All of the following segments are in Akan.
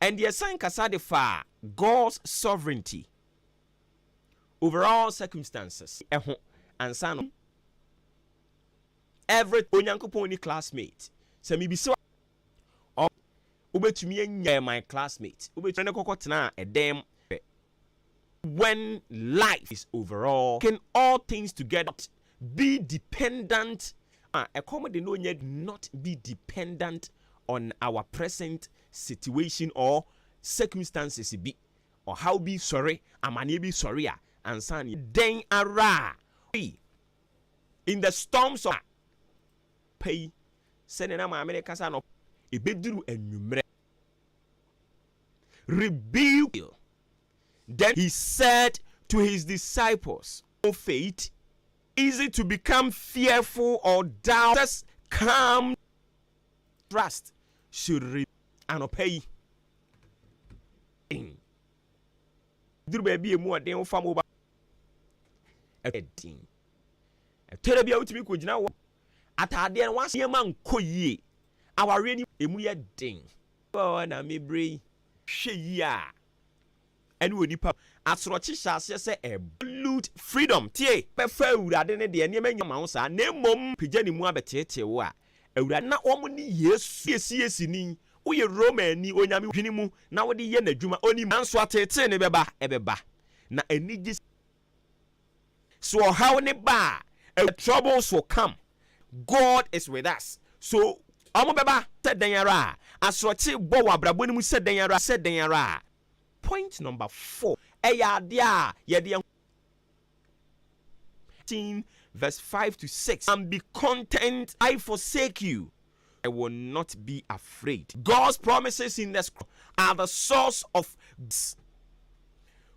And yɛsan kasa de faa God's sovereignty over all circumstances ho ansa no. Every Onyankopɔn ni classmate. Sɛ mibisa wobɛtumi anya my classmate wobɛtumi ne kɔkɔ tenaa ɛdan mu When life is overall, can all things together not be dependent a ɛkɔm de no nyɛ not be dependent on our present situation or circumstances bi ɔhaw bi sɔre amaneɛ bi sɔre a ansa na dɛn ara a ɔyi in the storms of pɛ yi sɛdeɛ na maame no kasa no ɛbɛduru anwummerɛ rebuked him. Then he said to his disciples, O faith, is it to become fearful or doubters come trust should re anɔpa yi den duru baabi a emu ɔden wofa mo ba ɛdin ɛtɔrɔ bi a wotumi kɔ gyina wɔ ataadeɛ no wasa nneɛma nkɔ yie Awareɛ no ɛmu yɛ den. Wɔ hɔ na me berɛ yi. Hwɛ yie a, ɛne onipa. Asorɔkye hyɛ aseɛ sɛ ɛbɔ. Absolute freedom, tie! Bɛfa Awurade ne deɛ. Nneɛma nnya mma wo saa, na mmom. Pagya ne mu abɛteetee wo a, Awurade. Na wɔn ne Yesu. Woyɛ CACni, woyɛ Romani, Onyame. Dwene mu, na wode yɛ N'adwuma, Ɔnim. Nanso ateetee no bɛba, ɛbɛba. Na anigye. So ɔhaw no ba a, ɛwɔ troubles will come, God is with us. So wɔn bɛba sɛ dɛn ara a, asorɔkye bɔ wɔ abrabɔ no mu sɛ dɛn ara sɛ dɛn ara a. Point number four, ɛyɛ adeɛ a yɛde ɛho. 18 verse 5 to 6, and be content I forsake you. I will not be afraid. God's promises in the scripture are the source of God's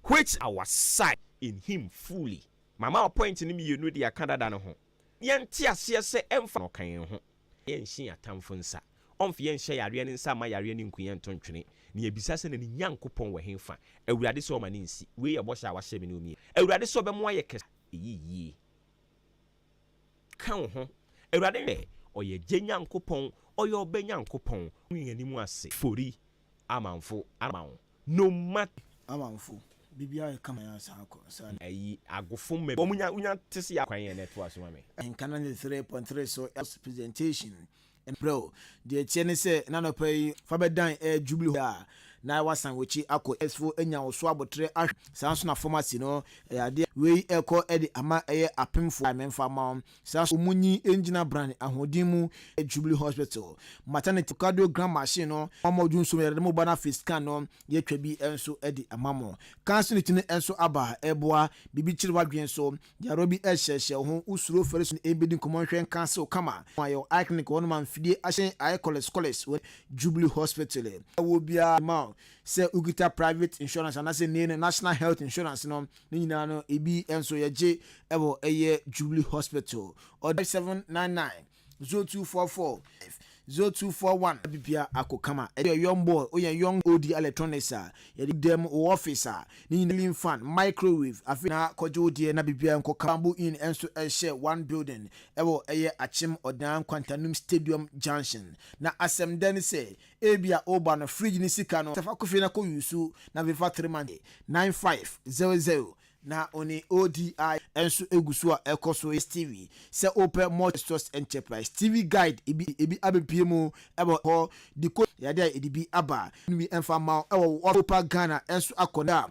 which our side in him fully. Mama o point no mmienu de aka dada no ho. Yɛnte aseɛ sɛ ɛmfa no ka yɛn ho. Yɛnhyɛ yɛn atamfo nsa. Ɔmfa yɛn nhyɛ yareɛ no nsa mma yareɛ no nku yɛn nto ntwene. Na yɛbisa sɛ na ne Nyankopɔn wɔ hefa? Awurade sɛ ɔma no nsi. Wei yɛ bɔhyɛ a wahyɛ me ne wo mmienu. Awurade sɛ ɔbɛmoa yɛ kɛse a, ɛyɛ yie. ka wo ho. Awurade yɛ, ɔyɛ gye Nyankopɔn, ɔyɛ ɔbɛ Nyankopɔn. Wo nwi anim ase. Fori, amanfo, ara ma wo, no matter. Amanfo, biribiara yɛ kama yɛn asan akɔ, saa ne. Ayi, agofo mma bi, wɔn nya, wonya te se yɛ akwan yɛn na ɛtoa so ma me. Nka na ne three point three so, ɛso presentation. Mprɛ o, deɛ ɛteɛ ne sɛ na anɔpa yi fa bɛdan ɛɛ Jubilee hɔ a na woasan w'akyi akɔ US foɔ anya wo so aboterɛ ahwɛ saa nso na fam ase no ɛyɛ adeɛ a wei ɛkɔ de ama ɛyɛ apemfoɔ a memfa mma wo saa nso ɔmo nyi ngyina Brane ahoɔden mu ɛyɛ Jubilee Hospital maternity echocardiogram machine no mo a mo dwo nsuom yɛde mo ba no afei scan no yɛatwa bi nso de ama mo kaa nso ne ti no nso aba ɛboa biribi kyere w'adwene so Gyaro bi ɛhyɛhyɛ wo ho wo suro fɛre so ne ɛbɛdi nkɔmmɔ nhwɛ nka ase wo kama ho ayɛ wo iconic wɔ hɔ nom a mfidie ahyɛn ayɛ kɔlɛs kɔlɛs wɔ Jubilee Hospital ɛwɔ biara de ma wo sɛ wo kita private insurance anaasɛ nnee no National Health Insurance no ne nyinaa no ɛbi nso yɛgye ɛwɔ ɛyɛ Jubilee Hospital ɔde seven nine nine. Zo two four four five zo two four one. Abibia ako kama ɛde yɛ young boy o yɛn young odi electronics a yɛde da mu wɔ office a ne nyinaa ceiling fan microwave afei na kɔgye wo deɛ na biribiara nkɔ kama bamboo inn nso hyɛ one building ɛwɔ ɛyɛ akyem ɔdan nkwantanum stadium junction na asɛm dɛ ne sɛ ebia oba no fridge ne sika no sɛ fa kɔ fie na kɔ use na afei fa three months nine five zero zero Na one ODI nso gu so a ɛkɔ so yɛ Stevie. Sɛ wopɛ Multi-Source Enterprise Stevie Guide bi a, ebi abepue mu wɔ hɔ. Decoder yɛ ade a yɛde bi aba. Nwi mfa mma wo wɔ wo office. Wopa Ghana nso akɔ na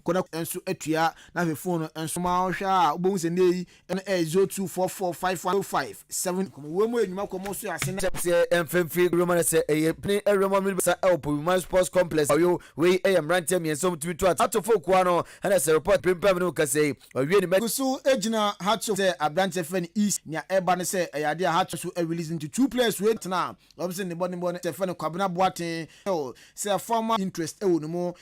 kɔ na nso atua na afei fon no nso. Ma wo hwɛ a wobɛhu sɛ nnɛyi Ɛna ɛyɛ zero two four four five one zero five seven. Kɔmɔ wura mu enyuma kɔmɔ so ase na. Kyɛm sɛ ɛmfa mfiri wura mu na sɛ ɛyɛ pini wura mu a mini basa ɛwɔ Pobiman Sports Complex Ɔyo. Wei ɛyɛ mmeranteɛ mmiɛnsa a wɔtumi to ato fo kuo ano ɛna sɛ report aprimpam no ka sɛi ɔwie ne. Gu so gyina Hearts of sɛ aberanteɛ frɛ no Issa nea ɛba ne sɛ ɛyɛ adeɛ a Hearts of so release no nti two players wei na atena a wɔpɛ sɛ ne bɔ ne bɔ ne sɛ frɛ no Kwabena Boateng sɛ former interest ɛwɔ ne mu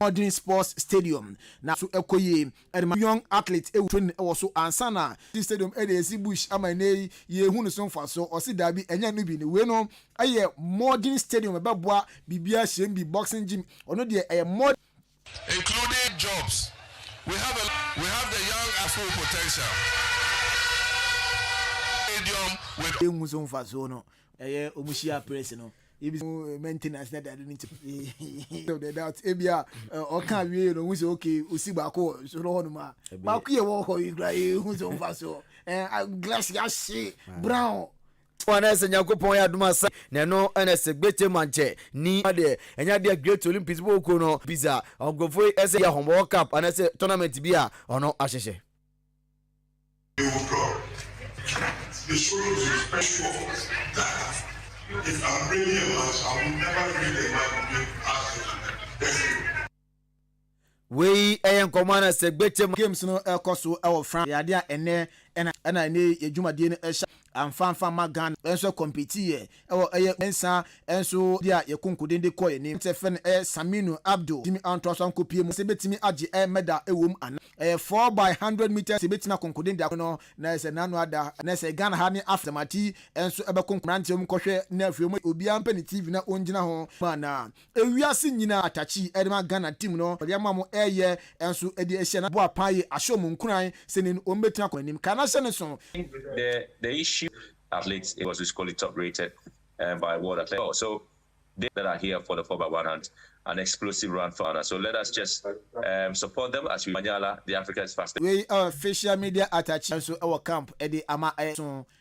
Modern Sports Stadium na so ɛkɔ yie de ma young athletes ɛwɔ training ɛwɔ so ansa na. Team Stadium ɛde ɛsi bush ama ɛnɛ yi yɛ hu no so mfasoɔ ɔse daabi ɛnyɛ ɛno bi ne wei no ɛyɛ modern stadium ɛbɛboa biribiara hyɛm bi boxing gym ɔno deɛ ɛyɛ modern. Including jobs we have a we have the young a full potential stadium with. Yɛ hu so mfasoɔ no ɛyɛ ɔmo hyia press no. ebi mu eh, maintenance na dade no nti of the doubt ebi a eh, ɔka awie no ohun sɛ okay osi baako wɔ nsoro hɔ nom a baako yɛ wɔ hɔ yi kura ehun sɛ ɔnfa so ɛɛ eh, glass yɛ ahye brown. wọn na ɛsɛ nyankopɔn yɛ adum asa na ɛno ɛna ɛsɛ gbete mankyɛ ni adeɛ ɛnyɛ adeɛ great olympics bɔ ɔkuo no pizza ɔnkɔfo yi ɛsɛ yɛ ahɔn world cup anasɛ tournament bi a ɔno ahyehyɛ. Wei yɛ nkɔmmɔ a na Sɛgbe te ma. Games no rekɔ so wɔ France. Ɛyɛ adeɛ a ɛnnɛ na ɛnna ɛnnɛ yi yɛn dwumadie no hyɛ. Amfa amfa ma Ghana nso kɔmpitiiɛ wɔ ɛyɛ nsa nso de a yɛ konkoden de kɔɔ anim. Aberanteɛ fɛ no ɛyɛ Saminu Abdo tumi antoa so ankɔpie mu sɛ bɛtumi agye ɛyɛ medal ɛwɔ mu anaa. Ɛyɛ four by hundred metres sɛ bɛtumi akɔnkoden de akɔ no na ɛyɛ sɛ n'ano ada. Ɛnɛ ɛsɛ Ghana ha ne Africa. Tamati nso ɛbɛkonko. Mmeranteɛ mokɔhwɛ na afei mo obiara mpɛ ne TV na ɔngyina ho mu anaa. Ewiase nyina atakyi ɛde ma Ghana team no wɔde ama ɔmo ɛɛyɛ ɛnso ɛde ahyia na boa paa yie ahyɛ ɔmo nkuran sɛnee ɔmo bɛtumi akɔ anim kaa na hyɛ ne so. The the issue athletes it was physically top rated and by world athletic oh so they that are here for the four by one hunt an explosive run for Ghana so let us just um support them as we manyala the Africa's fastest. Wei ɛwɔ facial media atakyi ɛnso ɛwɔ camp ɛde ama ɛso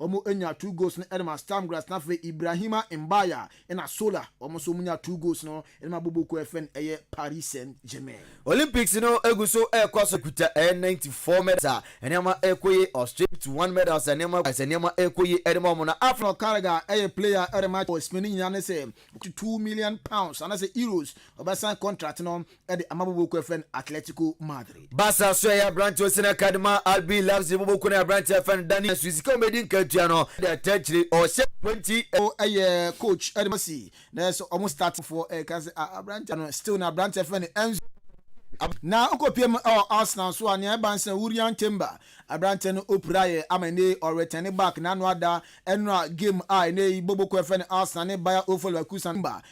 Wɔnya two goals no de ma Stam Graz na afei Ibrahima Mbaya na Sola wɔn nso wɔnya two goals no de ma bobo ko ɛfɛ no ɛyɛ Paris Saint Germain. Olympics no gu so rekɔ so. Kuta ɛyɛ ninety four medals a nneɛma rekɔ yie. Austria fifty one medals a nneɛma as nneɛma rekɔ yie de ma wɔn na Africa. Conor Carragher ɛyɛ player a ɛde ma wɔ Spain ne nyinaa ne sɛ ɔkuta two million pounds anaasɛ euros ɔbɛsan contract no de ama boboku a ɛfrɛ no Atletico Madrid. Barca nso ɛyɛ aberante ɔsi no akade ma RB Leipzig boboku no yɛ aberante a ɛfrɛ no Dani Alves sika a wɔbɛdi nkatua no de ata akyire ɔhyɛ 20. Ɛyɛ coach de ma si na sɛ wɔn start foɔ ɛka sɛ ah aberante no still na aberante a ɛfrɛ no Enzo. Na ɔkɔpie mu wɔ Arsenal nso a nea ɛba ne sɛ Urian Timber aberante no ɔpira yɛ ama ɛnɛ yi ɔretɛne back n'ano ada ɛnora game a ɛnɛ yi boboku a ɛfrɛ no Arsenal ne Bayer Ofolwakusan Timber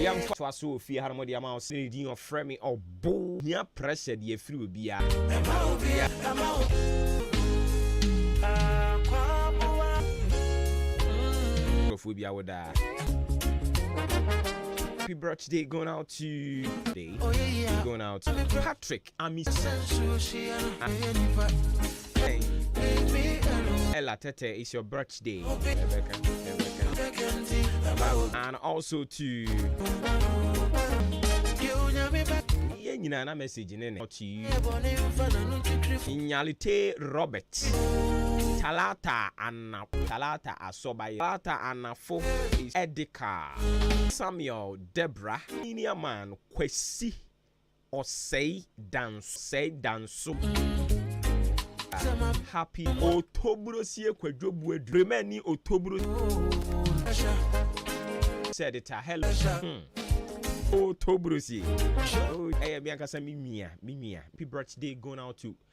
Yɛ mfa toa so wɔ fie ha no mode ama wo sɛ din ɔfrɛ me ɔbo hia pressure deɛ afiri obiara. Ɛma obia ɛma akwaboa. Nkurɔfoɔ bi awo daa. Happy birthday going out to day going out to Patrick. Ella Tete, it's your birthday. And also to yɛn nyinaa na message ne ne to you nyalite robert talata ana talata asɔbayɛ talata anafo is edika samuel debra senior man kwasi Ɔsɛe danso sɛe danso ah, Happy Otobro sie kwadwo bue du Prema ni Otobro Said it a hello hmm. Otobro sie Oh ɛyɛ mi ankasa mi nua mi nua Happy birthday going out to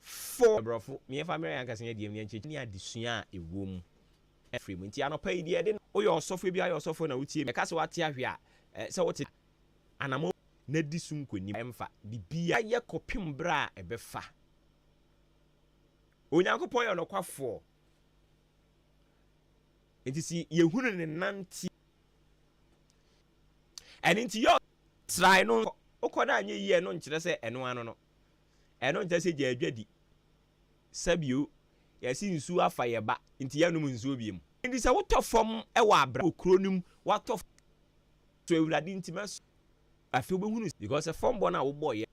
fo. Aborɔfo, me yɛmfa mmrɛ yɛn ankasa yɛn deɛm yɛn nkyerɛkyerɛ ne adesua a ɛwɔ mu mfiri mu. Nti anɔpa yi deɛ yɛde no. Woyɛ ɔsɔfo, ebia woyɛ ɔsɔfo na wotie me, yɛka sɛ woate ahwe a, ɛɛ sɛ wote anamɔn na di so nkonim. Ɛmfa biribiara yɛ kɔpem berɛ a ɛbɛfa. Onyankopɔn yɛ ɔnɔkwafoɔ. Nti si yɛhunu ne nante. Ɛno nti yɛ. Trae no nkɔ. Wokɔ no anyɛ yie ɛno nkyerɛ sɛ ɛno ano no. Ɛno nkyɛ sɛ gyaa dwa di. Sa bio. Yɛse nsuo afa yɛ ba nti yɛnnom nsuo bio mu. Nti sɛ wotɔ fam wɔ abra wɔ kuro no mu watɔ fam so awurade nti mɛ so afei wobɛhunu sɛ because sɛ fam bɔ no a wobɔ yɛ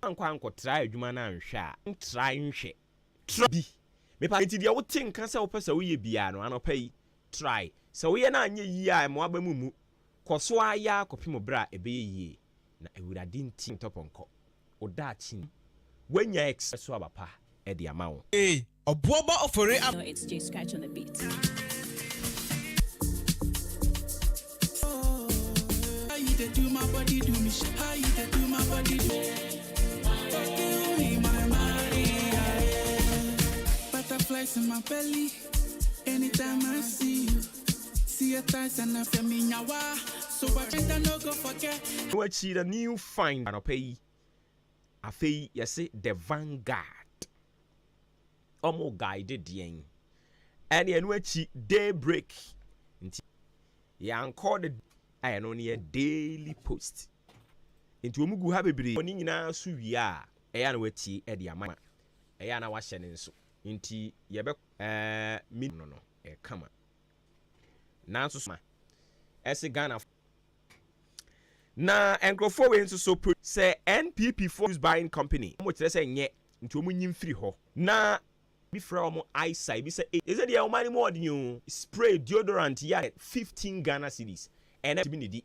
na wankɔ ankɔ try adwuma no anhwɛ a n try nhwɛ try bi me pa nti deɛ wote nka sɛ wopɛ sɛ woyɛ biaa no anɔpa yi try sɛ woyɛ no anyɛ yie a ɛmoa bɛ mu mu kɔ so ara yɛ ara kɔpem berɛ a ɛbɛyɛ yie. Na Awurade nti ntɔpɔnkɔ. Wo daakye nim. Woanya ex so aba pa de ama wo. Eii ɔboɔ bɔ ofori aba. Now it's Jay Scratch on the beat. See a times and a feminyawa, so I better no go forget. No akyi na new find anɔpa yi afei yɛse the vanguard ɔmo guide deɛn ɛne ɛno akyi day break nti yɛankɔ the a ɛno ne yɛ daily post nti ɔmo gu ha bebree ɔne nyinaa so wie a ɛyɛ na watie ɛde ama ɛyɛ na wahyɛ ne nso Enti yɛbɛ. Ɛɛɛ me no no yɛ kama. Nanso so ma ɛse Ghanafoɔ. Na nkurɔfoɔ wei nso so pro. Sɛ NPP foɔ use buying company wɔn kyerɛ sɛ nyɛ nti wɔn nyi mfiri hɔ na. Bi frɛ wɔn Aisa ebi sɛ ei. Ɛsɛ deɛ wɔn ani mu ɔden oo. Spray deodorant yɛ a 15 Ghana cedis ɛnɛ tumi ne di.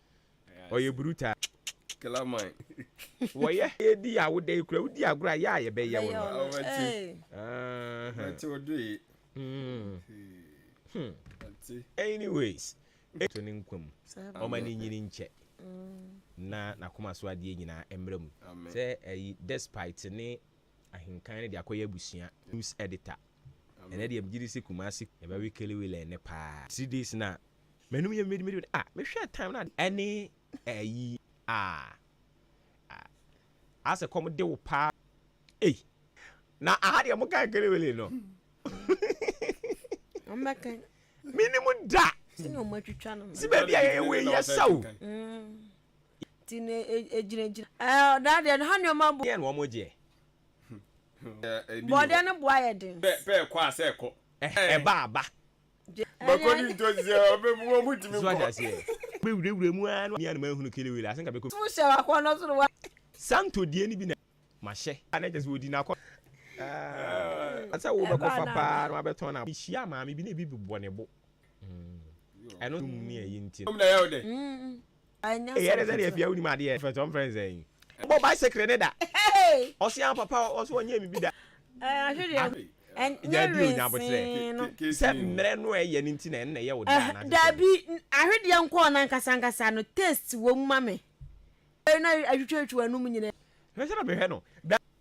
Ɔyɛ brutal. Killer man. Wɔyɛ edi a woda yi kura wodi agorɔ a yɛ a yɛbɛyɛ wo no. Ɔbɛte. Ɔbɛte ɔdo yi. Ɔbɛte. Anyways. To ne nkwa mu. Ɔma ne nyini nkyɛ. Na n'akoma so adeɛ nyinaa mmra mu. Sɛ ɛyi despite ne ahenkan no de akɔyɛ abusua news editor. Ɛnɛ deɛ megyedi sɛ Kumasi. Yɛbɛwe Kelly Willen no paa. Three days na M'anom yɛ midi midi midi ah me hwɛ time na ɛne ɛyi ah ah asɛ kɔm de wo paa ei na aha deɛ mo kan kere wele no menim da si baabi a yɛyɛ wei yɛ sa o ti na egyina gyina ɛɛ ɔdaa deɛ no ha nneɛma bo yɛn wɔn mo gyeɛ bɔdeɛ no bo ayɛ den pɛ pɛ kɔ asɛ kɔ ɛba aba Makɔdi ntɔsi a, ɔbɛbu wɔn mu tumi nkɔ. Mewurawura mu ara na mia no manhunu Kelewele ase nka bɛkɔ. Tum hyɛ w'akɔnnɔ so na wa. Santo deɛ no bi na mahyɛ. A na kyerɛ sɛ ɔdi n'akɔ. Aa sɛ wobɛkɔfa paa na wabɛtɔn na. Mehyiaa maame bi na ebi bobɔ ne bo. Ɛno mu ne ɛyi nti no. Mmom na ɛyɛ wo dɛ. Anya Eyɛ ne sɛ deɛ fɛfɛfɛ. fia wonim adeɛ. Fɛ sɛ ɔmfrɛ no sɛn. Bɔ bicycle ne da. Hey! Ɔse ah papa ɔse ɔnyɛɛ me bi da. Eh, ahwe deɛ hu. Ahwe. Ɛnyɛ Gyaa bio nya aboterɛ. Ke, wensee no. ke, ke Sɛ sii no. mmerɛ no a ɛyɛ no nti na ɛno na ɛyɛ wo da Ɛhɛ, anaasɛ sɛn. daabi, n, ahwe deɛ nkɔɔ no ankasa ankasa no, taste wɔ mu ma me. Ɛno a, atwitwatwitwi w'anom nyinaa. Hwɛ sɛdeɛ mehwɛ no. Da.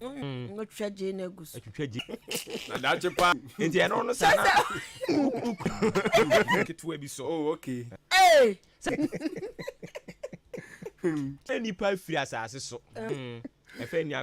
Mm, wotwa gye na egu so. Atwitwa gye. Na daakye pa. Nti ɛno no sɛ na ketewa bi so. Oh, okay. Ee. Sɛ nipa firi asase so. Ɛfɛ nua.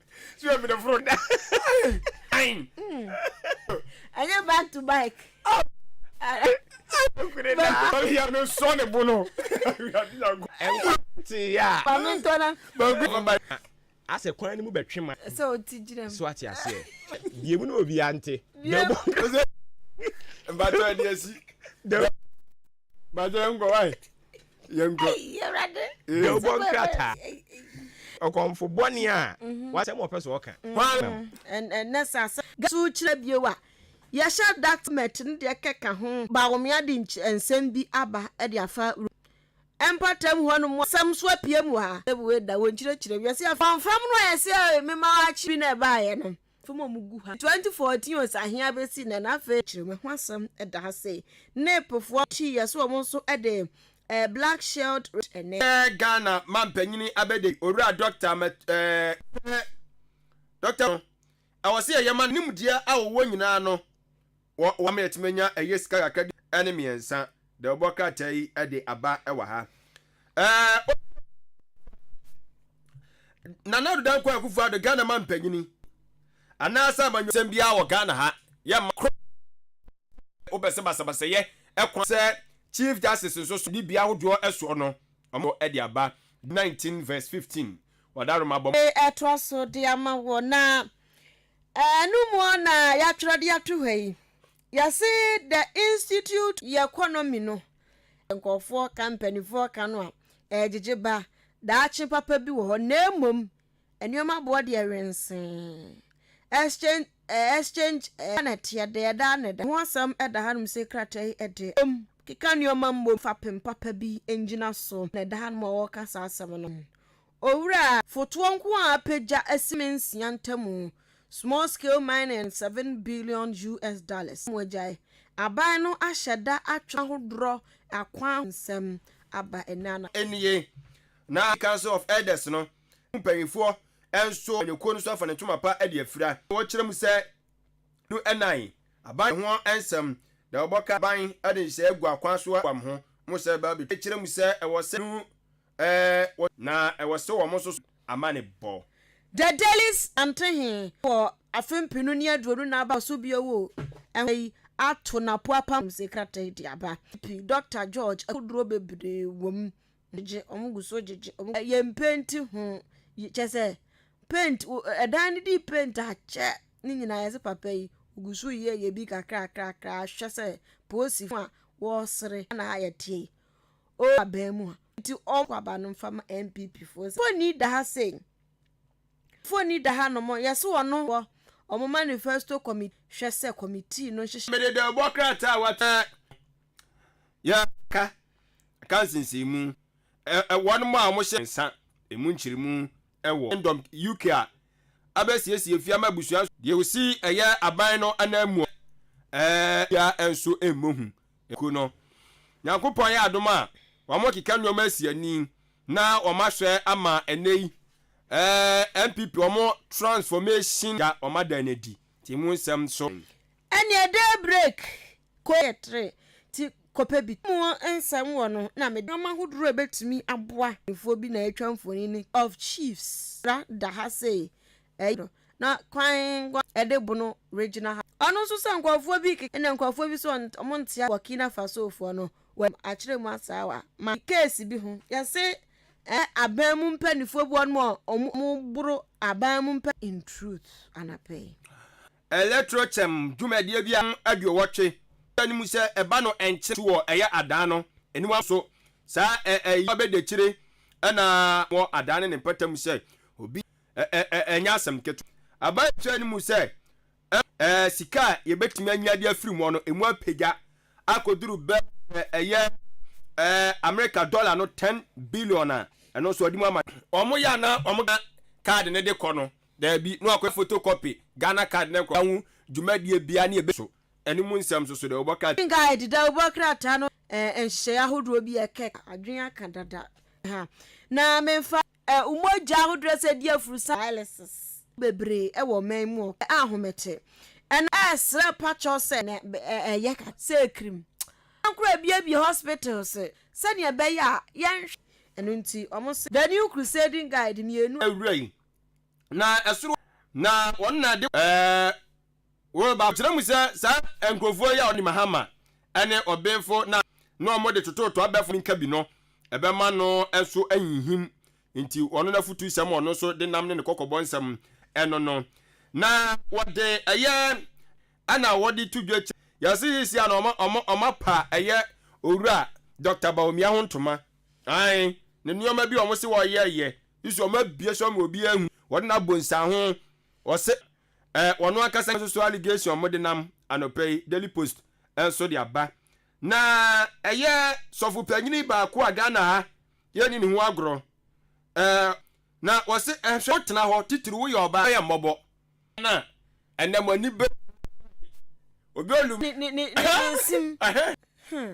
So yɛ mede foro da. Ain. Ɛnyɛ back to bike. Kure na. Bari ya no so ne bo no. Ɛwɔ te ya. Ba me ntɔ na. Ba gu ba. Asɛ kwan no mu bɛtwe ma. Sɛ o ti gyina mu. So ate aseɛ. Bie mu na obi ante. Bie mu. Mbatɔ ɛdi asi. Mbatɔ ɛnkɔ wai. yɛnkɔ yɛbɔ nkrataa ɔkɔmfo bɔne a mhm. wasɛm ɔpɛ so ɔka mhm. hwanam ɛnɛ sɛ asɛ gaso kyerɛ bio a yɛhyɛ document no deɛ kɛka ho baomea de nsɛm bi aba de afa ɛmpatam hɔ no mu asɛm so apue mu ha ɛbuwe da wɔnkyerɛkyerɛ wiase afamfam no a ɛsɛ mema akyi bi na ɛbaeɛ no fam a wɔgu ha. 2014 Osahe abesi nnɛ na afei kyerɛwma ho asɛm da ha sei. Nepefoɔ akyi yɛ so wɔn nso de eh, black shelled red eh, ne. Ɛyɛ Ghana Mampanyini Abɛdei Owura Dɔkta Mɛt eh, Dɔkta no, ɛwɔ sɛ yɛma no nimdeɛ a wɔwɔ nyinaa no Wɔ wɔn a ɛtumi anya ɛyɛ sika kakra di ne mmiɛnsa deɛ wɔbɔ krataa yi de aba wɔ ha. Ɛɛ Nana Ado Dankwa Akufo Ado Ghana ma mpanyini anaasɛ amanyɔsɛm biara wɔ Ghana ha yɛ ma koro wopɛ sɛ basabasayɛ ɛkwan sɛ Chief Justice nso so dibea ahodoɔ ɛsoɔ no ɔmo de aba 19 verse 15 wɔda Roma bɔ. Ɛtoa so de ama wɔ na. Ɛno mu na yɛatwerɛ de ato ha yi. Yɛse the institute yɛ economy no. Nkurɔfoɔ ka mpanimfoɔ ka no a, ɛregyegye ba. Daakye papa bi wɔ hɔ na mmom nneɛma boɔ deɛ wensee. Exchange eh, exchange eh, na ɛteɛ deɛ ɛda na ɛda. Ho asɛm da hanom sɛ krataa yi deɛ. Mmom, keka nneɛma mmom fapem papa bi ngyina so na ɛda hanom a wɔreka saa asɛm no. Owura a fotoɔ nko ara apɛ gya asime nsia ntamu, small scale mining and seven billion US dollars mu agyae. Aban no ahyɛ da atwe ahodoɔ akwan ho nsɛm aba ɛnnɛ anadwo. nie, na Council of Elders no mu mpanimfoɔ nso amanyɔkuo no nso afa ne ntoma pa de afira na wɔkyerɛ mu sɛ no nan aban ho nsɛm na wɔbɔ ka aban de nhyehyɛeɛ gu akwan so aboa mo ho mo sɛ bɛba abɛtwa kyerɛ mu sɛ ɛwɔ sɛ no Ɛɛ, na ɛwɔ sɛ wɔn nso so amanebɔ. The Dailies nte he wɔ afe mpenu ne aduonu na aba so bio o. Ɛho yi ato n'apo apam galamsey krataa de aba. MP Dɔkta George Akuduro bebree wɔ mu. Gyegye, wɔn gu so gyegye wɔn gu. Yɛn mpenti ho yi, kyerɛ sɛ paint, ɛdan no dii paint akyɛ ne nyinaa yɛse papa yi ɔgu so reyɛ yɛ bi kakrakrakra hwɛ sɛ poosifo a wɔresere na ha yɛteɛ yi O aban mu a. Nti ɔmo kɔ aba no mfa ma NPP foɔ sɛ mfoni da ha sei mfoni da ha nom yɛse ɔno wɔ ɔmo manifesto committee hwɛ sɛ committee no nhyehyɛ. Mede dawubɔ krataa a wɔatwerɛ a yɛaka aka nsensɛnmu a wɔnom a wɔhyɛ nsa emu nkyeremu wɔ Kingdom UK a abɛsiesie fie ama abusua nso. Deɛ ɔsi ɛyɛ aban no ananmu a ɛɛ biara nso mmɔ hu. Ekuo no, Nyankopɔn ayɛ adom a wɔakeka nnoɔma asi ani na wɔasoɛ ama ɛnnɛ yi ɛɛ NPP wɔn transformation a wɔada no adi nti emu nsɛm so. Ɛneɛ day break ko yɛ tere nti kɔpɛ bi to. Emu nsɛm wɔ no na mede nnoɔma ahodoɔ a ɛbɛtumi aboa. Mpanimfoɔ bi na atwa mfonini of chiefs da ha sei Ɛyɛ no na kwan nko a ɛde bo no regyina ha. Ɔno nso sɛ nkurɔfoɔ bi rekeka na nkurɔfoɔ bi nso wɔn nte aseɛ Burkina Fasofoɔ no wɔn anim akyerɛ mu asaawa ma case bi ho yɛse ɛɛ aban mu mpanifoɔ bi wɔnom a wɔboro aban mu mpɛ. In truth anapɛ yi. Electrokyɛm dwumadie biara mu aduowɔtwe da no mu sɛ ɛba no ɛnkyɛ tu wɔ ɛyɛ adan no aniwa so saa ɛɛ ɛyi abɛdakyire ɛna wɔ adan no ne mpata mu sɛ obi Ɛnyɛ asɛm ketewa. Ɛbaa nkyerɛɛ no mu sɛ sika a yɛbɛtumi anya de afiri mu hɔ no, ɛmu apagya akɔduru bɛyɛ ɛyɛ Amerika dɔla no ten billion a ɛno nso wɔde mu ama. Wɔyɛ a na wɔka card no de kɔ no, daabi, na wɔakɔyɛ photocopy Ghana card na nkurɔfoɔ ho dwumadie biara ne ɛbɛsi so. Ɛno mu nsɛm nso so dɛn? Wobɔ krataa. Kenkan Dawubɔ krataa no nhyehyɛeɛ ahodoɔ bi a ɛkeka adwene aka dada ha na memfa Ɛ Mogya ahodoɔ a ɛsɛ di afurusa dialysis. bebree wɔ ɔman mu ɔ a ahomekyɛ ɛna. Ɛ Srɛ pa kyɛw sɛ na ɛ ɛ yɛ ka sɛ krim na nkoro abiebie hospitals sɛdeɛ ɛbɛyɛ a yɛnhwɛ ɛno nti wɔn se. The New Crusading Guide mmienu a. Wura yi, na ɛsoro. Na wɔn na ɛde. Ɛ. Woreba akyerɛ mu sɛ saa nkurɔfoɔ yi a wɔde Mahama ne ɔbenfo no a na wɔde tototoa abɛfa no nka bi no, ɛbɛma no nso ahinhim. Enti ɔno n'afotusɛm a ɔno nso de nam ne ne kɔkɔbɔ nsɛm no no na wɔde ɛyɛ ɛna wɔde to dwa kyɛ. Yɛse sesia no ɔma ɔma ɔma pa ɛyɛ Owura Dɔkta Bawumia ho ntoma. Ae, ne nneɛma bi a wɔse wɔyɛɛyɛ yi so wɔn abue so ama obiara ahu. Wɔde no abɔ nsiaho. Wɔse Ɛɛ, wɔn ankasa nso so allegation mo denam anɔpa yi Daily Post nso de aba. Na ɛyɛ sɔfo panyini baako a Ghana ha yɛnni ne ho agorɔ. Ɛɛ, na wɔse ɛhwɛ wo tena hɔ titiriw woyɛ ɔbaa yɛ mmɔbɔ. Na ɛnɛ mo ani bɛ. Obi olum. Ne ne ne ne ne nsim. Ɛhɛn. Hmm.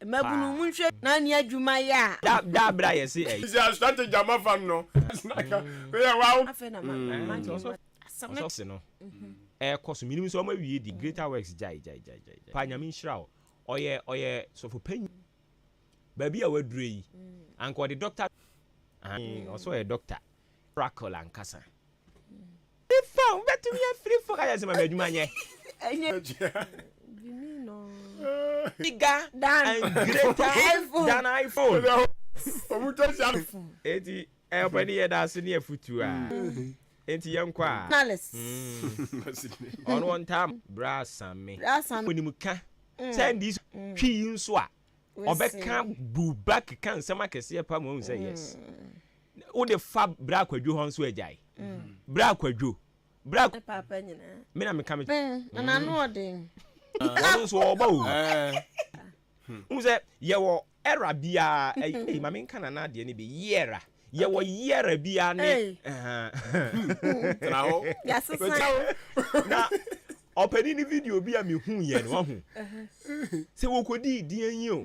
Mmabunu, monhwɛ na ne adwuma yɛ a. Da da bere a yɛse ɛyɛ. Sisi a strategy a mafa no no ɛse na ka me yɛ waw. Afei na ma ma nti ɔsɔ asɛm no. Ɔsɔfse no ɛkɔ so menim sɛ ɔma wie deɛ greater works gyae gyae gyae gyae paa nyame nhyira wo ɔyɛ ɔyɛ sɔfo panyin baabi a waduro yi anka ɔde doctor ahan ɔsɛ ɔyɛ doctor oracle ankasa. Mefa wo bɛtumi afiri fo. Kaya sɛ ma me adwuma nyɛ. Ɛnyɛ. Gyimi no. Bigger and greater than iPhone. Ɔmo twa hyia no. Eti ɛpɛ ne yɛ da so ne afutu a. Enti yɛn kɔ a. Ɔno ɔntaa mo. Bra sa me. Onim ka. Sɛ ndi so twi yi nso a. Ɔbɛka bu back ka nsɛm akɛseɛ paa ma wahu sɛ yes. Wode fa bra kwadwo hɔ nso agyae bra kwadwo bra. Ne paapa nyinaa. Me na meka me. Bɛn na n'ano ɔden. Ɔno nso ɔɔba o. Wohu sɛ yɛwɔ era biara ei ma menka nana adeɛ no bi yeara yɛwɔ yeara biara ne tena hɔ yɛasesa wo na ɔpɛni ne video bi a mehu yɛ no wahu sɛ wɔkɔdii deɛ yi o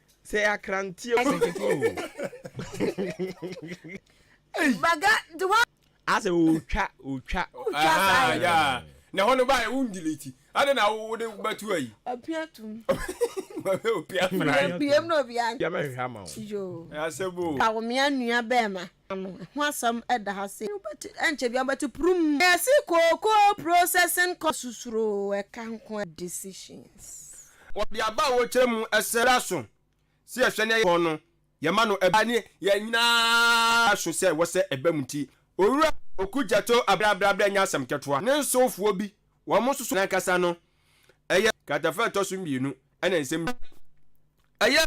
Sɛ akra ntie o nketewa o. Baga de wa. Asɛ otwa otwa. Otwa saa yɛ. Na ɛhɔ no ba yɛ wo ndelete ade na wo de bɛto ayi. Opia tum. Opia mmerɛ. Yɛn pm na obi an. Yɛmɛhwehwɛ ama wo. Yoo. Asɛm o. Pawomea nua bɛɛma. no ho asɛm da ha sei. Ɛnkyɛ biara wobɛte purum. Yɛse kookoo processing kɔ so suro ɛka nko a decisions. Wɔde aba a wɔkyerɛ mu sɛ bra so sɛ yɛhwɛ ne kɔn no yɛma no ɛba ne yɛn nyinaa so sɛ wɔ sɛ ɛba mu nti Owura Oku Gyatoo abrɛabrɛabrɛ nyɛ asɛm kɛtoa. Ne nsowfoɔ bi wɔn nsoso nankasa no ɛyɛ kratafa ɛtɔ so mmienu ɛna nsɛm bi a ɛyɛ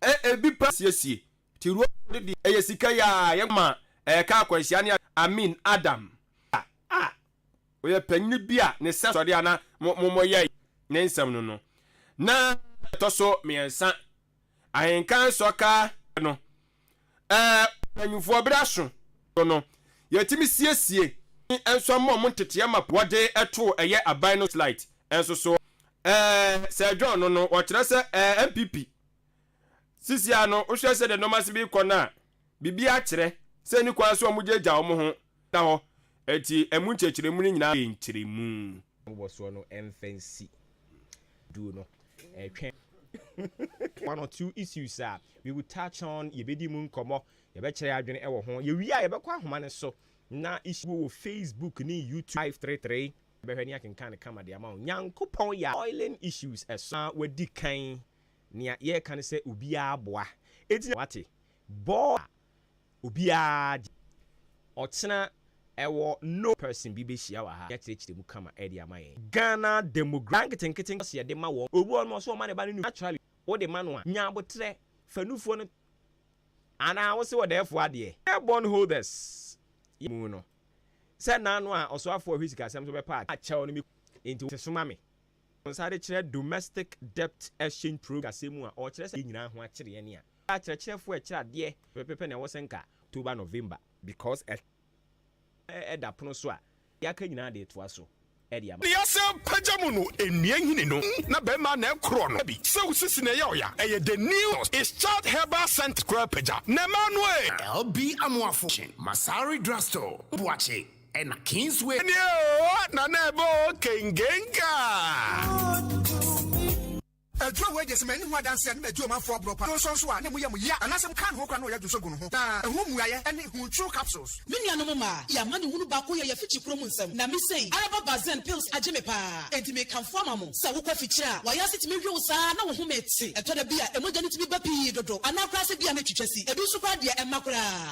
ɛɛ ebi pa siesie Tiro de deɛ ɛyɛ sika yi ara yɛ ma ɛka akwanhyia ne ade. Amin, Adam, a a ɔyɛ panyin bi a ne sɛ sɔre a na mo mo mo yɛe ne nsɛm no no, na ɛtɔ so mmiɛnsa. Ahenka nsɔ ka no, ɛɛ mpanyinfoɔ bere aso no no, yɛtumi siesie ne nso mmɔ mo nteteɛ map wɔde to ɛyɛ aban no slite nso so. Ɛɛ Sir John no no, ɔkyerɛ sɛ ɛɛ NPP Sisiaa no, wohwɛ sɛdeɛ nnoɔma si rekɔ no a, biribiara kyerɛ sɛ ɛnni kwan sɛ wɔgyaagyaa wɔn ho da hɔ. Enti ɛmu nkyerɛkyerɛmu no nyinaa yɛ nkyerɛmu. Mmobɔsoɔ no mfa nsi duu no ɛtwɛn. One or two issues a we will touch on, yɛbɛdi mu nkɔmmɔ, yɛbɛkyerɛ adwene wɔ ho. Yɛwie a yɛbɛkɔ ahoma no so na issue wɔ Facebook ne YouTube live three three yɛbɛhwɛ ne akenkan no kama de ama wo. Nyankopɔn yɛ a oiling issues ɛso na wadi kan. Nea yɛreka ne sɛ obiara boa. Enti na wate bɔɔl a obiara gye. Ɔkyena ɛwɔ no person bi bɛhyia wɔ ha de akyerɛkyerɛ mu kama de ama yɛn. Ghana Demographics. Daa nketenkete nkɔso yɛde ma wɔn. Obi wɔ hɔ nom a ɔse ɔma ne ba no nufoɔ. Naturally wode ma no a, nya aboterɛ fa nufoɔ no Anaa wose ɔdɛɛfoɔ adeɛ. Yɛn bond holders yɛ mu no. Sɛ nna ano a ɔsoafoɔ a ɔhwɛ sikasɛm so bɛpa adeɛ a kyɛw no me kunu nti wo se soma me. Wɔn nsa de kyerɛ Domestic Debt Exchange Program kasɛm mu a ɔkyerɛ sɛ nyinaa ho akyere ɛne a ɛyɛ akyerɛkyerɛfoɔ a ɛkyerɛ adeɛ pɛpɛpɛ na ɛwɔ sɛ nka October November because ɛtɔ ɛda pono so a deɛ aka nyinaa de retoa so de ama. Nea sɛ pagya mu no nnua nhini no na bɛrima na ɛkorɔ no bi sɛ wo sisi na ɛyɛ ɔya ɛyɛ the new is child herbal scent koraa pagya na ɛmaa no ee. LB Amoafo kyen Masari Drugstore, Boakye. Ɛna Kingsway nie oo na na ɛbɔ oo kengenkaa. Aduro wei deɛ sɛ manni ho adanseɛ a ne madi ɔmanfoɔ aborɔ pa donsɔ nso a ne moyɛ mo yea anaasɛ mokaa ne ho koraa na ɔyɛ donsɔ gu no ho na ɛho mmuaeɛ ne Huntruo capsules. Me nuanom mmaa, yɛ amanehunu baako yɛ yɛ afikyiri koro mu nsɛm na me sei araba Barzan pills agye me paa enti mekamfo ama mo sɛ wokɔ afikyiri a wayɛ ase tumi we wo saa na wo home te. Ɛtɔ da bi a ɛmogya no tumi ba pii dodo anaa koraa sɛ bi a na ɛtwitwa si. Ɛbi nso koraa deɛ ɛmma koraa.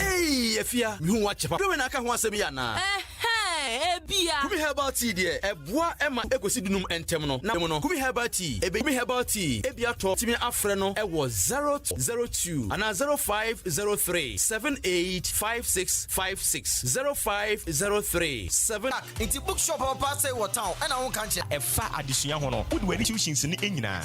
Ei, afia, mehu woakyɛ pa. Dwowɛ na aka ho asɛm yi anaa? ebia. Kumi herbal tea deɛ ɛboa ɛma ekosi dunum ntɛm no na mu no kumi herbal tea ebe kumi herbal tea ebi atɔ timi afrɛ no ɛwɔ zero zero two ana zero five zero three seven eight five six five six zero five zero three seven. nti bookshop a ɔpɛ asɛe wɔ town ɛna ho nka nkyerɛ. ɛfa adesua ho no wode w'ani kyiw hyinsi no nyinaa.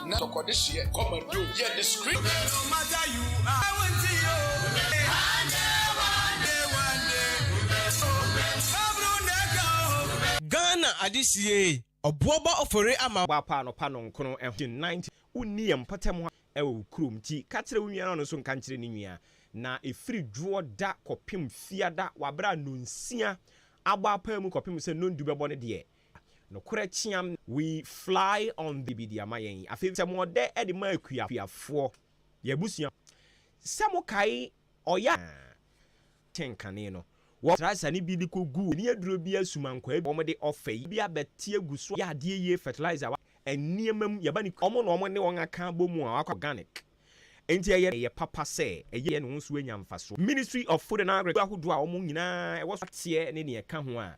na tɔkɔde hyeɛ kɔma bio yɛ de screen. Ghana ade siee, ɔboɔ ba ɔfɔre ama wo. Woapa anɔpa nɔnkron ho gye nante. Wonni yɛn mpɔtam ha wɔ wo kurom nti, ka kyerɛ wo nua na ɔno nso nka nkyerɛ ne nua. Na ɛfiri dwoɔ da kɔpem Fiada, wɔ aberɛ a Nonsia abɔ apaa mu kɔpem sɛ Nondu bɛbɔ ne deɛ, Nokorɛ kyeam We fly on the Biribi de ama yɛn yi Afei sɛ mo ɔdɛ de ma akuafoɔ Yɛn abusua Sɛ mo kae ɔya a Kyɛn kane no Wɔ fertilizer ne bi de kɔ gu Ani aduro bi asuma nkwaa bi Wɔn de ɔfɛ yi bi abɛte agu so a Yɛ adeɛ yie fertilizer wa Nneɛma mu Yɛba ne kuro Wɔn na wɔn ne wɔn aka abɔ mu a Wakɔ organic Enti ɛyɛ ɛyɛ papa sɛ Ɛyɛ yɛ ne ho nso anya mfasoɔ Ministry of food and agriculture Akuo ahodoɔ a wɔn nyinaa ɛwɔ so Ateɛ ne deɛ ɛka ho a.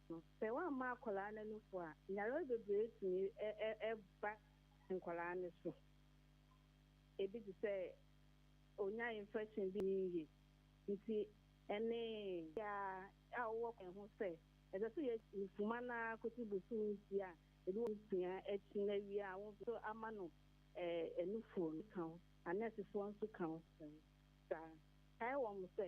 no. Sɛ woammɔ akwadaa no anufo a, nyarewa bebree tumi ba nkwadaa no so. Ebi te sɛ onya infection bi nni yiye. Nti ɛne biara a wowɔ kwan ho sɛ ɛsɛ sɛ yɛgye mfuma no ara kosi bosoom nsia, ebi wɔ nsia akyi na awie a wo nso ama no anufo no ka ho. Anɛɛsefoɔ nso ka ho saa. Kae wɔn sɛ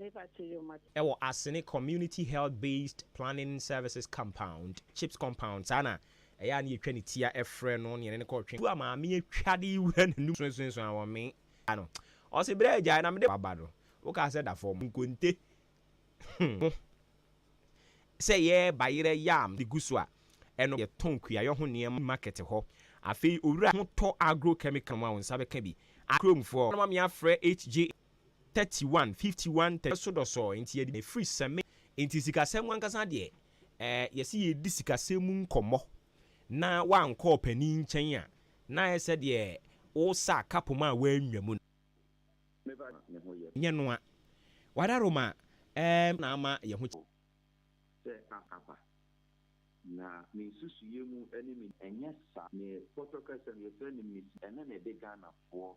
Ɛwɔ Asene Community Health Based Planning Services Compound, CHPS Compound, saa na ɛyɛ a na yɛtwa ne ti a ɛfrɛ no ne yɛne no kɔ twe tu a maame atwa de wura n'anum suasuasu a wɔmee da no. Ɔse berɛ a agyae na mede waba no, wokaa sɛ da fam nkonte ho sɛ yɛreba yerɛ yam de gu so a, ɛno yɛtɔn kuayɔ ho nneɛma market hɔ. Afei owura ho tɔ agro chemical mu a wo nsa bɛka bi a kuromfoɔ no ma me afrɛ HJA. 31 51 31 so dɔsɔɔ nti yɛde ne firi sɛme nti sikasɛm ankasa deɛ ɛɛ yɛse yɛredi sikasɛm mu nkɔmmɔ na wankɔ ɔpanin nkyɛn a na ayɛ sɛ deɛ wosa kapom a wanwa mu no nyɛ noa wada roma ɛɛ na ama yɛn ho kyɛ. sɛ akapa na me nsusuiɛ mu ɛne me. Ɛnyɛ saa. Ne pɔtɔkasɛm yɛfrɛ no misi ɛna na ɛde Ghanafoɔ.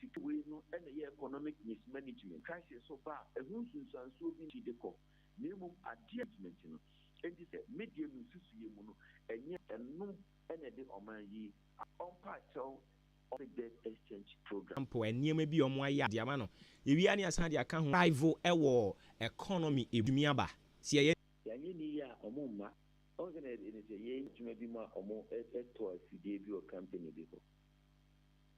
City wei no na ɛyɛ economic mismanagement crisis so ba a, ɛho nsunsuansoɔ bi nti de kɔ, na mmom adeɛ a management no. Enti sɛ me deɛ me nsusuiɛ mu no, ɛnyɛ ɛno na ɛde ɔman yi a. Ɔmpaakyɛw ɔse debt exchange program. Mpo nneɛma bi a wɔayɛ a de ama no yɛwie a na yɛasan de aka ho. Rival wɔ economy ɛbɛtumi aba sɛ yɛyɛ. Yɛanyɛ no yie a wɔn mma. Wohu sɛdeɛ ɛte? Sɛ yɛn adwuma bi mu a wɔtɔ afidie bi wɔ company bi hɔ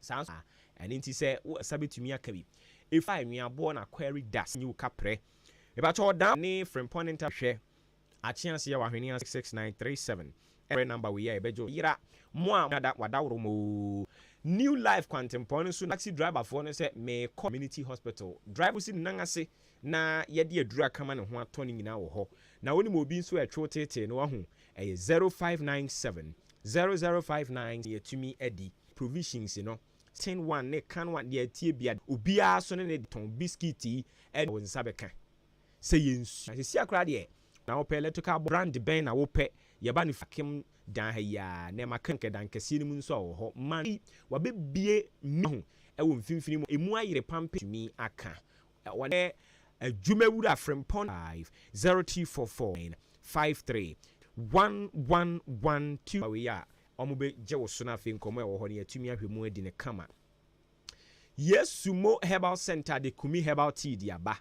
Saa nso na ɛno nti sɛ wo nsa bɛtumi aka bi. Ɛfiri a nweaboɔ na kwari da sɛ nyi wo kaprɛ. Mepakyɛ ɔdan ne frempɔn ne ntam hwɛ akyeaseɛ wɔ ahweneɛ ase 66937 ɛfrɛ number wei a ɛbɛgye wo. Yera mo a moda wadaworo mo oo. New life kwantempɔn no so na taxi driver foɔ no sɛ meekɔ community hospital. Driver no si ne nan ase na yɛde aduru akama ne ho atɔ ne nyinaa wɔ hɔ. Na wonim obi nso a ɛtwe wo teetee no wahu ɛyɛ 0597 0059 yɛatumi adi. Provisions no, tin one ne can one deɛ ɛteɛ biara, obiara so ne ne tɔn biscuit yi ɛna wo nsa bɛka. Sɛ yɛ nsu. Na sesia koraa deɛ na wopɛ electrical box brand bɛn na wopɛ, yɛba no fie kem dan ha yi aa, na ɛma kɛ nkɛ dan kɛseɛ no mu nso a wɔ hɔ. Man yi wabɛ bie me ho ɛwɔ mfimfini mu a ɛmu ayere pam pɛ tumi aka ɔnɛ adwuma wura Frimpong 5 0344 9 53 111 2 wei a wɔbɛgye wo so na afei nkɔmmɔ a ɛwɔ hɔ no yɛatumi ahwɛ mu adi no kama. Yesu Mo Herbal Centre de Kumi Herbal Tea de aba.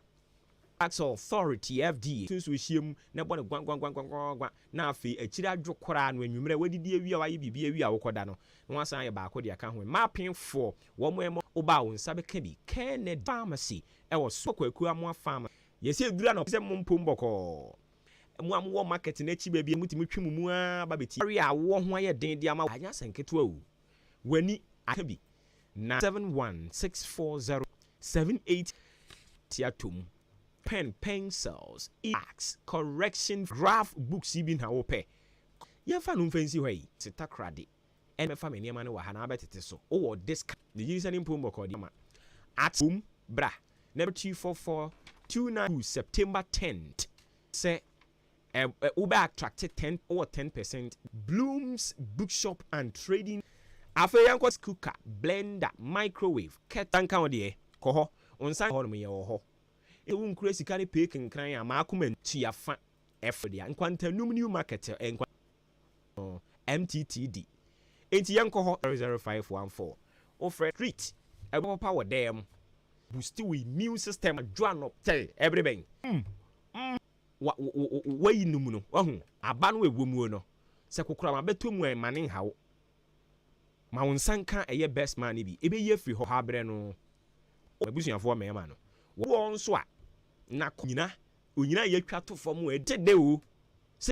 Tax Authority, FDA, nso ahyia mu na ɛbɔ no gwaggwaggwaggwaggwa na afei akyiri adwo koraa no anwummerɛ wadidi awie a wayɛ biribi awie a wokɔda no na wasan ayɛ baako de aka ho. Mma apemfoɔ, wɔn a ɛmɔ wo ba a wo nsa bɛka bi. Kennedy Pharmacy wɔ Sokwa Akuamoa Pharmacy. Yɛsɛ ɛduru anɔpa sɛ mompom bɔkɔɔ. Mo a mowɔ market no akyi baabi a mutumi twe mo mu ara ba betie. Aware a awoɔ ho ayɛ den de ama wo. Anyɛ asɛm ketewa o, w'ani aka bi na. Seven one six four zero seven eight. Te ato mu. Pen, pencils, e-books, correction. Graph books yi bi na wopɛ? Yɛmfa no mfa nsi hɔ yi. Takoradi ɛna mɛfa me nneɛma no wɔ ha na abɛtete so. Wowɔ disk, ne nyinsɛn ne mpɔn mu ɔkɔɔdeɛma at home? Bra na ɛbɛkyerɛ two four four two nine two September tenth sɛ ɛ ɛ wobɛ attracte ten wowɔ ten percent. Bloom's Bookshop and Trading Afei yɛnkɔ rice cooker, blender, microwave, kettle. Nsa nka wo deɛ, kɔ hɔ. Wo nsa nka hɔnom, yɛwɔ hɔ. Sɛ wonkura sika ne pay kenkran a, ma akoma ntu. Tua fa, ɛforo deɛ a, nkwantanum New Market, nkwa. Ɔɔ MTT di enti yɛnkɔ hɔ. Zero zero five one four wo frɛ street ɛbɔ papa wɔ dɛɛ mo. Boost wo immune system adwo ano. Sɛ ɛbere bɛn mm mm wa wo wo wo wayi no mu no wahu aba no ɛwɔ muo no sɛ kokorama bɛtɔ mu a ma ne nha wo ma wo nsa nka ɛyɛ best man no bi ɛbɛyi afiri hɔ haberɛ no wo abusuafoɔ mmarima no wɔ woɔ nso a na kɔ nyina onyina yɛtwa to fam ɛde dɛ o sɛ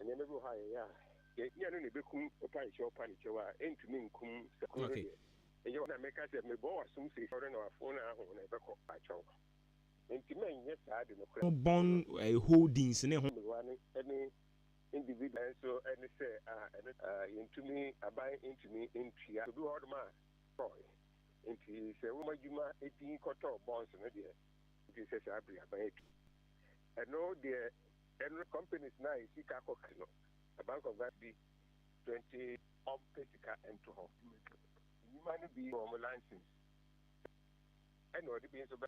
Nneɛma bi wɔ hɔ a yɛyɛ a yɛhia no na ɛbɛkum ɔpa nkyɛw ɔpa ne kyɛw a ɛntumi nkum sɛ kuro no deɛ ɛyɛ hɔ na meka sɛ mebɔ w'asom sɛ sɔre na wafo na aho na ɛbɛkɔ akyɛw nti mɛnyɛ saa de nokorɛ bɔn holdings ne ho. Mmerewa no ne individual nanso ɛne sɛ a ɛno yɛntumi aban ntumi ntua obi wɔ hɔ nom a tɔɔe nti sɛ woma adwuma din kɔtɔɔ bonds no deɛ nti sɛ saa bere aban atu ɛno deɛ Ɛnrɛ companies no a yɛ sika kɔ kɛ no na bank of Ghana di twenty ɔm pɛ sika nto hɔ nnwuma no bi wɔ ɔm license ɛna ɔde bi nso bɛ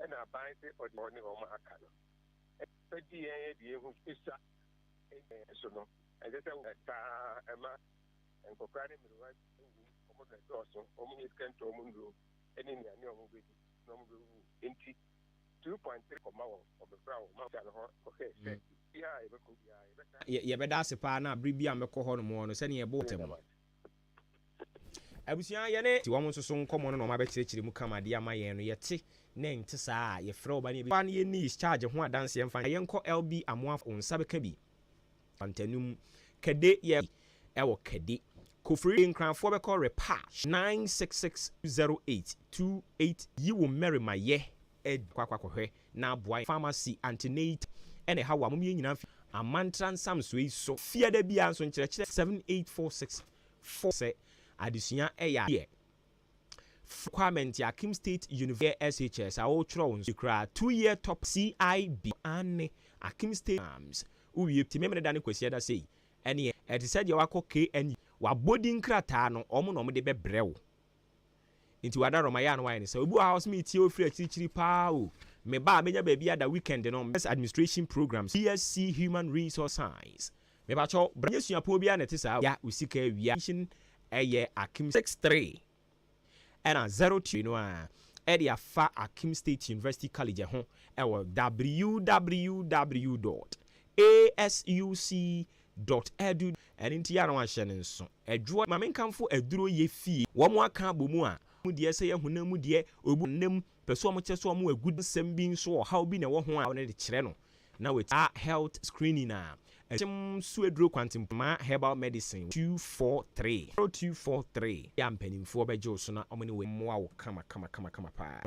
ɛna aban se ɔde hɔ ne ɔm aka no ɛbɛ di yɛn ɛde yɛn hu esua ɛnyɛ so no ɛnsɛ sɛ wɔ taa ɛma nkɔkora ne mmerewa ɛwu ɔm bɛ dɔɔso ɔm nyɛ sika nto ɔm nnuro ɛne nnuane ɔm bɛ di na ɔm bɛ wu nti. two point three kɔma wɔn, wɔbɛfra wɔn ma wɔagya no hɔ kɔhwɛ sɛ baabiara a yɛbɛkɔ biara yɛbɛtaa yɛ. Yɛbɛda ase paa na bere biara a mɛkɔ hɔ nom no sɛnea yɛbɔ ntɛm no. Abusua, yɛne. Te wɔn nso so nkɔmmɔ no na wɔabɛkyerɛkyerɛ mu kama de ama yɛn no, yɛte na ɛnte saa a, yɛfrɛ wɔn ba na yɛbɛsi. Ɔbaa no yɛ Niece Charge ho adanseɛ mfa. Yɛnkɔ LB Amoah. Wo nsa bɛka bi. Fantanu mu kɛde yɛ bi ɛwɔ kɛde kofiri nkranfoɔ bɛkɔ repatch nine six six two zero eight two eight yi wo mɛrima yɛ adi kɔ akɔ akɔhwɛ na aboa yɛn pharmacy antenatal ɛna ɛha wo a mom yɛn nyinaa fi amantra nsamsoɔ yi so fia da biara nso nkyerɛkyerɛ seven eight four six four sɛ adesua ɛyɛ adeɛ Fr. Kwame Ntia Kim State University Year SHS a wokyerɛw nso ye koraa two year topper CIB. Aane, Akim State Exams wo wie pɛtee Memeneda ne Kwasiada sei ɛneɛ ɛte sɛ deɛ wakɔ KNU wabɔ din krataa no wɔn na wɔn de bɛbrɛ wo nti w'adaworo ma yɛ a na wayɛ ne saa obi wɔ ha a ɔse metie wo firi akyirikyiri paa o meba a mɛnya baabi ada weekend no Business Administration Programs BSc Human Resource Science Mepakyɛw bra nyɛ suapɔn biara na ɛte saa wia wo sika awia nhyem ɛyɛ akim six three ɛna zero two no a ɛde afa akim state university college ɛho ɛwɔ www dot asuc dot edu ɛne nti yɛ na wahyɛ no nso adwoɔ ma menkamfo aduro yɛ fie wɔn aka abɔ mu a mu deɛ sɛ yɛ honam mu deɛ obu nam pɛ so wɔn kyɛ so wɔn agudi nsɛm bi nso ɔhaw bi na ɛwɔ ho a wɔn de kyerɛ no na wati saa health screening a ɛkyem so aduro kwantempoma herbal medicine two four three zero two four three yɛ a mpanimfoɔ bɛgye wo so na wɔne wo mmoa wo kama kama kama kama paa.